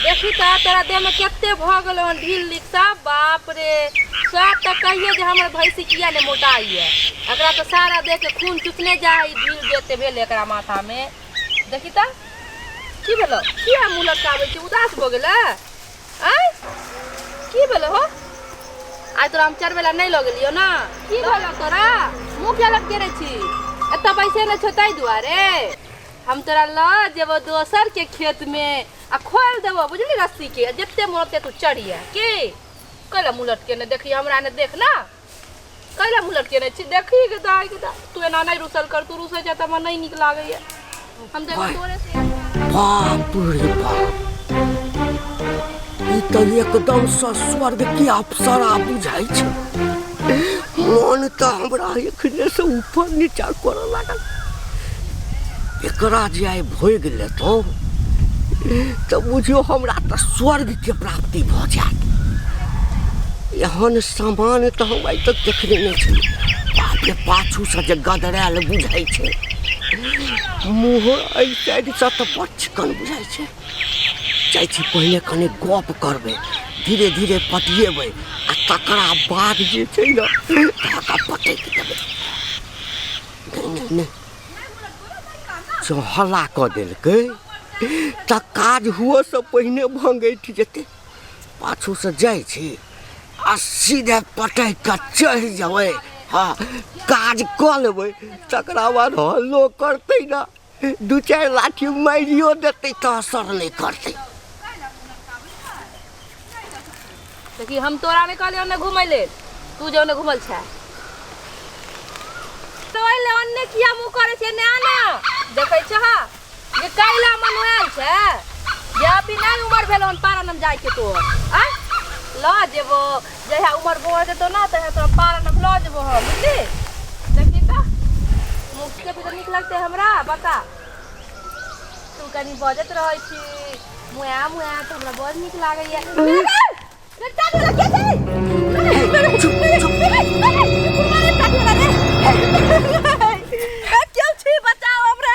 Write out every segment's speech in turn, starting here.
देखी तऽ तोरा देहमे कते भऽ गेलौ हन ढील लीक सब बाप रे सब तऽ कहिए जे हमर भैंसी किया ने मोटा ये एकरा तऽ सारा देह के खून चुसने जा है ढील देते भेल एकरा माथा में देखी तऽ की भेलो किया मुँह लटकाबै छी उदास भऽ गेलै आँय की भेलो हो आइ तोरा हम चढ़बै लए नहि लऽ गेलियौ ने की भेलो तोरा मुँह किया लटकेने छी एतऽ बैसे नहि छौ ताहि दुआरे हम तोरा ल जेबो दोसर के खेत में आ खोल देबो बुझली रस्सी के जते मोन ओते तू चढ़िया की कैला मुलट के ने देखी हमरा ने देख ना कैला मुलट के ने छी देखी के दाई के दा तू एना नहीं रुसल कर तू रुसे जा त हमरा नहीं निक लागैया हम देखो ओए। तोरे से बाप रे बाप ई तऽ एकदम सँ स्वर्ग के अप्सरा बुझाइ छै मन तऽ हमरा एखने से ऊपर नीचा करऽ लागल एकरा जे आइ भोगि लेतहुँ तऽ बुझियौ हमरा तऽ स्वर्गके प्राप्ति भऽ जायत एहन सामान तऽ हम आइ तक देखने नहि छी बाप रे पाछूसँ जे गदरायल बुझाइ छै मुँहो एहि साइडसँ तऽ बड़ चिकन बुझाइ छै जाइ छी पहिले कनि गप करबै धीरे धीरे पटिएबै आ तकरा बाद जे छै ने धागा पटैक देबै नहि नहि नहि जँ हल्ला कऽ देलकै तऽ काज हुअसँ पहिने भङ्गैठ जेतै पाछूसँ जाइ छी आ सीधे पटैक कऽ चढ़ि जेबै हँ काज कऽ लेबै तकरा बाद हल्लो करतै ने दू चारि लाठी मारियो देतै तऽ असर नहि करतै देखी हम तोरा नहि कहलियौ ने घुमै लेल तू जो ने घुमल छै तो ओहि ले अन्ने किया मुँह करै छै ने आना देखै छह जे कैला मनुआल छै जे अभी नहि उमर भेलो हन पारानम जाइके तोहर आँय लऽ जेबो जहिया उमर भऽ जेतौ ने तहिया तोरा पालन हम लऽ जेबो हम बुझली देखी तऽ मुखके भी तऽ नीक लगतै हमरा बता तू कनी बजैत रहै छी मुआ मुआ तऽ हमरा बड़ नीक लागैया रे टाटा लग के छै क्यों छी बचाओ हमरा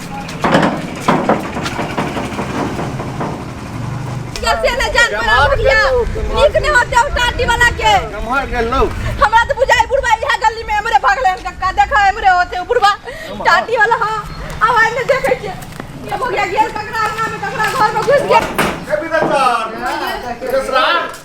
कैसे न जान पर आउ भैया नीक ने होते हो टाटी वाला के नमहर गेल लो हमरा तो बुझाई बुढ़वा इहा गली में हमरे भगले हम कक्का देखा हमरे होते हो बुढ़वा टाटी वाला हां अब हम ने देखे के ये हो गया गेल ककरा अंगना में ककरा घर में घुस गया कभी दत्ता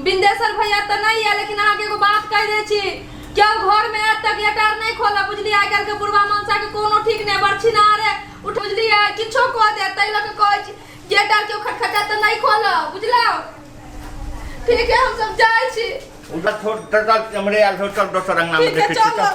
बिन्देसर भैया तऽ नहि यऽ लेकिन अहाँके एगो बात कहि दै छी केओ घरमे आयत तऽ गेट आर नहि खोलब बुझलियै आइ काल्हिके बुढ़वा मनसाके कोनो ठीक नहि बड़ छिनारे उठ बुझलियै किछो कऽ देत ताहि लऽ कऽ कहै छी गेट आर केओ खटखटायत तऽ नहि खोलब बुझलहुँ ठीक है हमसब जाइ छी उधर छोड़ दर्द हमरे आयल छोड़ चल दोसर अंगना में ठीक है देखे छी चल चल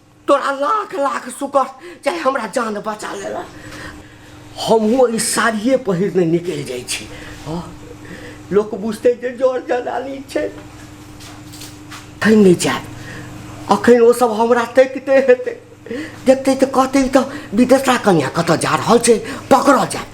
तोरा लाख लाख शुक्र चाहे हमरा जान बचा लेला हमहूँ ई साड़िए पहिरने निकलि जाइ छी हँ लोक बुझतै जे जर जनानी छै थै नहि जायब अखन ओसभ हमरा तकिते हेतै देखतै तऽ कहतै ई तऽ विदेशा कन्या कतऽ जा रहल छै पकड़ल जायब